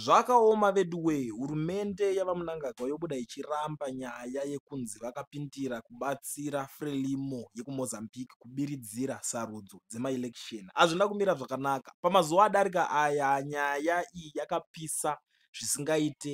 Zvakaoma veduwee hurumende yavamunangagwa yobuda ichiramba nyaya yekunzi vakapindira kubatsira frelimo yekumozambique kubiridzira sarudzo dzemaelection azvina kumira zvakanaka pamazuva adarika aya nyaya iyi yakapisa zvisingaite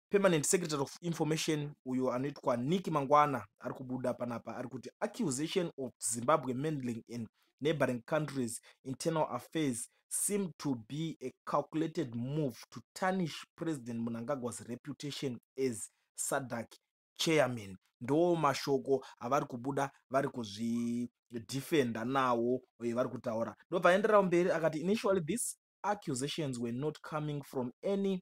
permanent secretary of information uyo anoitwa nick mangwana ari kubuda panapa ari kuti accusation of zimbabwe mendling in neighboring countries internal affairs seem to be a calculated move to tarnish president munangagwa's reputation as sadak chairman ndo mashoko avari kubuda vari kuzvidefenda nawo uye vari kutaura ndobva aenderao mberi akati initially this accusations were not coming from any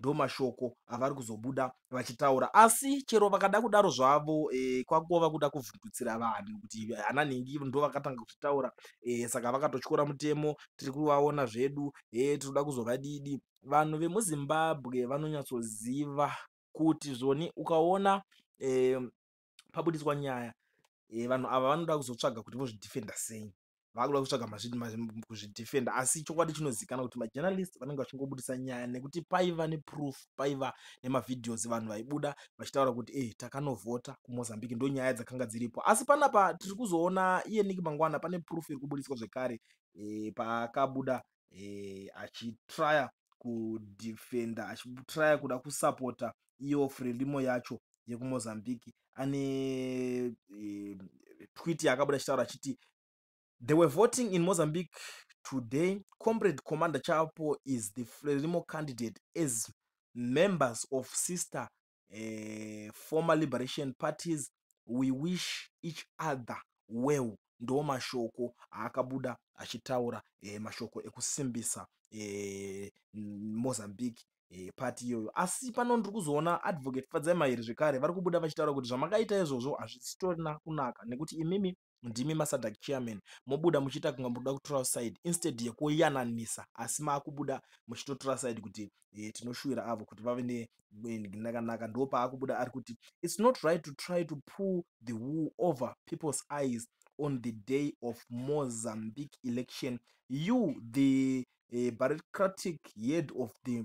ndomashoko avari kuzobuda vachitaura asi chero vakada kudaro zvavo e, kwakuva vakuda kuvhundutsira vanhu kuti ana nhingi ndo vakatanga kuzvitaura e, saka vakatotyora mutemo tiri kuvaona zvedu e, tinoda kuzovadidi vanhu vemuzimbabwe vanonyatsoziva kuti zvoni ukaona e, pabuditswa nyaya e, vanhu ava vanoda kuzotsvaga kuti vozvidefenda sei vakuda kutsvaga kuzvidefenda asi chokwadi chinozikana kuti majournalist vanenge vachingobudisa nyaya nekuti paiva neproof paiva nemavideos vanhu vaibuda vachitaura kuti e takanovhota kumozambique ndo nyaya dzakanga dziripo asi panapa tiri kuzoona iye niki mangwana pane proof iri kubudiswa zvekare e, pakabuda eh, achitrya kudefender achitrya kuda kusapota iyo frelimo yacho yekumozambique ane eh, twit yaakabuda achitaura achiti they were voting in mozambique today comrade commander chapo is the frelimo candidate as members of sister eh, former liberation parties we wish each other well ndo mashoko aakabuda achitaura eh, mashoko ekusimbisa eh, mozambique eh, pati iyoyo asi pano ndiri kuzoona advocate fadzai mairi zvekare vari kubuda vachitaura kuti zvamakaita izvozvo hazvisitorina kunaka nekuti imimi ndimi masadak chairman mobuda muchiita kunga muruda kutora side instead yekuyananisa asi maakubuda muchitotora side kuti e, tinoshuvira avo kuti vave nenakanaka ndo paakubuda ari kuti its not right to try to pull the wool over people's eyes on the day of mozambique election you the uh, eh, bureaucratic head of the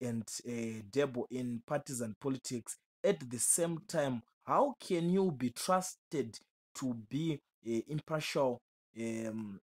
and uh, debbo in partisan politics at the same time how can you be trusted to be uh, impartial um,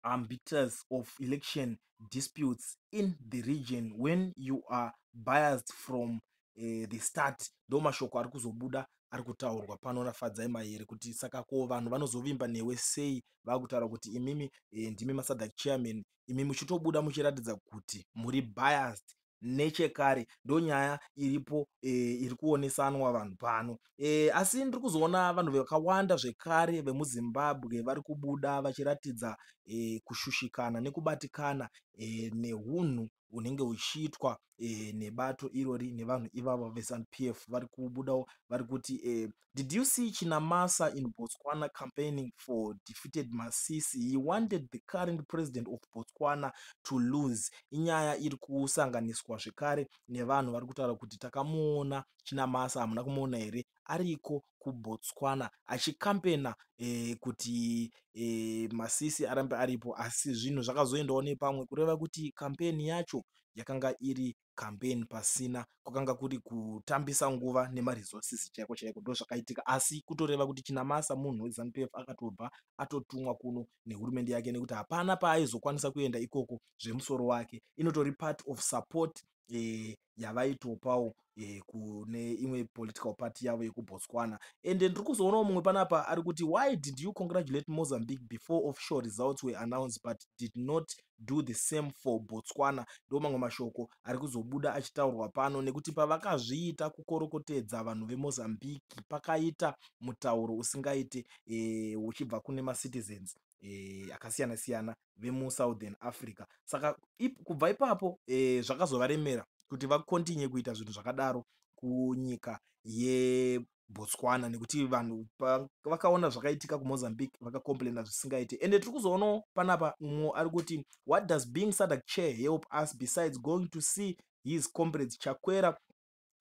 arbiters of election disputes in the region when you are biased from uh, the start ndo mashoko ari kuzobuda ari kutaurwa pano nafadzai mayere kuti saka ko vanhu vanozovimba newe sei vakutaura kuti imimi eh, ndimi masadhac chairman imi muchitobuda muchiratidza kuti muri biased nechekare ndonyaya iripo e, iri kuonesanwa vanhu pano e, asi ndiri kuzoona vanhu vakawanda zvekare vemuzimbabwe vari kubuda vachiratidza e, kushushikana nekubatikana e, neunhu unenge uchiitwa eh, nebato irori nevanhu ivavo veZanu PF vari kubudawo vari kuti eh, did you see Chinamasa in Botswana campaigning for defeated Masisi he wanted the current president of Botswana to lose inyaya iri kusanganiswa zvekare nevanhu vari kutaura kuti takamuona Chinamasa hamuna kumuona here ariko kuBotswana achikampena eh, kuti eh, masisi arambe aripo asi zvinhu zvakazoendawo nepamwe kureva kuti kampeni yacho yakanga iri kampeni pasina kwakanga kuri kutambisa nguva nemaresources chaiko chaiko ndo zvakaitika asi kutoreva kuti chinamasa munhu wezanup f akatobva atotumwa kuno nehurumende yake nekuti hapana paaizokwanisa kuenda ikoko zvemusoro wake inotori part of support e, yavaitopawo e, kune imwe political party yavo yekubotswana and ndiri kuzoonawo mumwe panapa ari kuti why did you congratulate mozambique before official results were announced but did not do the same for botswana ndo mamwe mashoko ari kuzobuda achitaurwa pano nekuti pavakazviita kukorokotedza vanhu vemozambique pakaita mutauro usingaite e, uchibva kune macitizens e, akasiyana siyana vemusouthern africa saka ip, kubva ipapo e, zvakazovaremera kuti vakontinye kuita zvinhu zvakadaro kunyika yebotswana nekuti vanhu vakaona zvakaitika kumozambique vakacomplaina zvisingaite ende tiri kuzoonawo panapa mumwe ari kuti what does being sadak chair help us besides going to see his comrades chakwera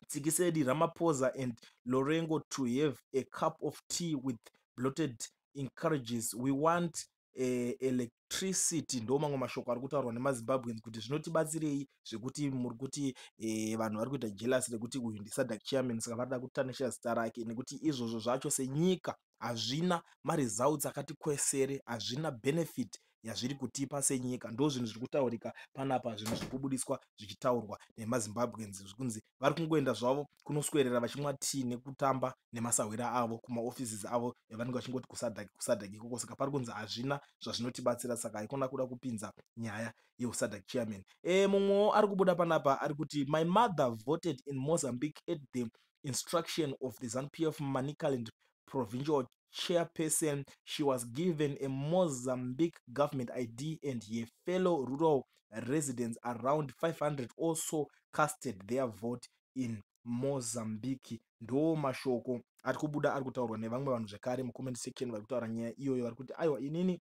Tsikisedi, Ramaphosa and Lorengo to have a cup of tea with bloated encourages. We want uh, eh, elect electricity ndo mamwe mashoko ari kutaurwa nemazimbabweans kuti zvinotibatsirei zvekuti muri kuti e, vanhu vari kuita jelas rekuti uyu ndisadak chairman saka varida kutanisha zita rake nekuti izvozvo zvacho senyika hazvina maresults akati kwesere hazvina benefit yazviri kutipa senyika ndo zvinhu zviri kutaurika panapa zvinhu zviri kubudiswa zvichitaurwa nemazimbabweans zvikunzi vari kungoenda zvavo kunoswerera vachimwa tii nekutamba nemasahwira avo kumaoffices avo evanenge vachingoti kusadhaki kusadhaki ikoko saka pari kunzi hazvina zvazvinotibatsira saka haikona kuda kupinza nyaya yeusadhaki chairman e mumwewo ari kubuda panapa ari kuti my mother voted in mozambique at the instruction of the ZANPF Manicaland provincial chairperson, she was given a Mozambique government ID and her fellow rural residents around 500 also casted their vote in Mozambique. Ndo mashoko ari kubuda ari kutaurwa nevamwe vanhu zvekare mucomment section vari kutaura nyaya iyoyo vari kuti aiwa inini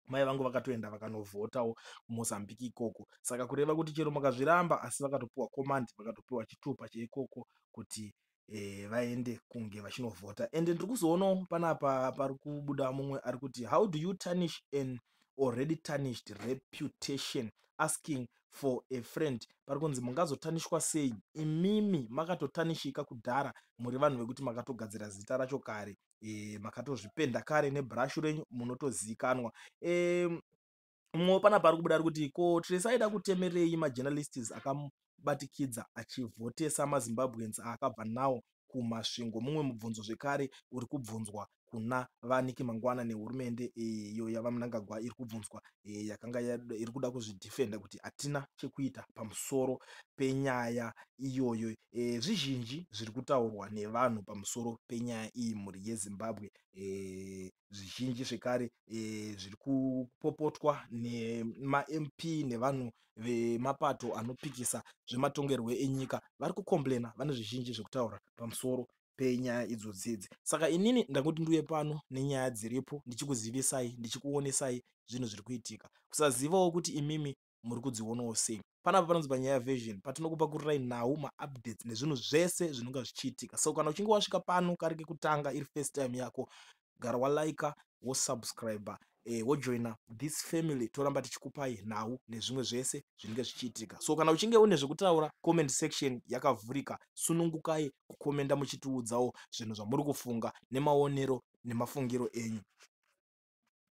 mai vangu vakatoenda vakanovhotawo kumozambique ikoko saka kureva kuti chero makazviramba asi vakatopiwa command vakatopiwa chitupa cheikoko kuti e, vaende kunge vachinovhota ende ndiri kuzoonawo panapa pari kubuda mumwe ari kuti how do you tarnish an already tarnished reputation asking for a friend pari kunzi mungazotanishwa sei imimi makatotanishika kudhara muri vanhu vekuti makatogadzira zita racho kare e, makatozvipenda kare nebrush renyu munotozikanwa e, mwo pana pari kubuda ari kuti ko trese aida kutemerei majournalists akabatikidza achivhotesa mazimbabweans aakabva nawo kumasvingo mumwe mubvunzo zvekare uri kubvunzwa kuna vaniki mangwana nehurumende iyo yavanangagwa iri kubvunzwa e, yakanga iri kuda kuzvidefenda kuti hatina chekuita pamusoro penyaya iyoyo e, zvizhinji zviri kutaurwa nevanhu pamusoro penyaya iyi mhuri yezimbabwe e, zvizhinji zvekare e, zviri kupopotwa nemamp nevanhu vemapato anopikisa zvematongerwo enyika vari kukomblena vane zvizhinji zvekutaura pamusoro penyaya idzodzi idzi saka inini ndangoti ndiuye pano nenyaya dziripo ndichikuzivisai ndichikuonesai zvinhu zviri kuitika kusazivawo kuti imimi muri kudzionawo sei panapa panonzi panyaya version patinokupa kurirai nhau maupdates nezvinhu zvese zvinonga zvichiitika so kana uchinge wasvika pano kari kekutanga iri first time yako gara waliker wosubscriber eh, wojoina this family toramba tichikupai nhau nezvimwe zvese zvinenge zvichiitika so kana uchinge une zvekutaura comment section yakavhurika sunungukai kukomenda muchitiudzawo zvinhu zvamuri kufunga nemaonero nemafungiro enyu